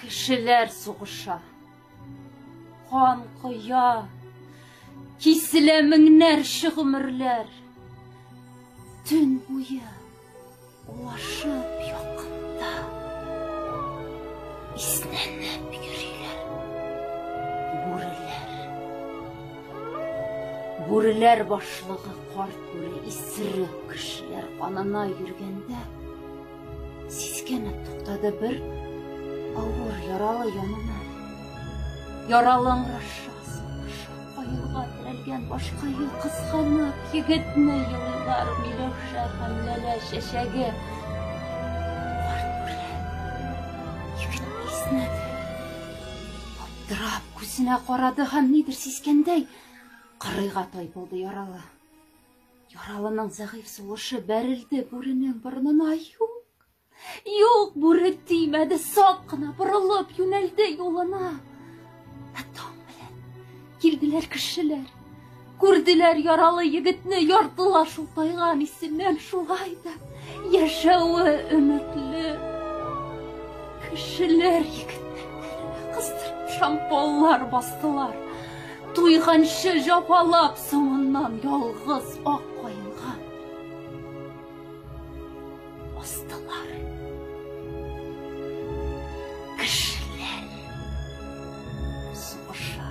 Кешеләр сугыша. Кан коя. Киселә меңнәрчә гомерләр. Төн буе улашып якында. Иснәнеп йөриләр. Бүреләр. Бүреләр башлыгы карт бүре исерек кешеләр канына йөргәндә, Сискәнеп туктады бер авыр яралы янына. Яралы аңраша, сараша, аюга терәлгән башка ел кызганып, егетне елыйлар Миләүшә һәм Ләлә чәчәге. Карт белән егет иснәде. Аптырап күзенә карады һәм нидер сискәндәй, кырыйга тайпылды яралы. Яралының зәгыйфь сулышы бәрелде бүренең борынына. Юк, юк, бүре тимәде, сак кына борылып юнәлде юлына. Ә таң белән килделәр кешеләр. Күрделәр яралы егетне яртылаш утайган исеннән шулай да. Яшәве өметле кешеләр егетләрне кыстырып шампаллар бастылар. Туйганчы җапалап соңыннан ялгыз ак каенга астылар. Кешеләр сугыша.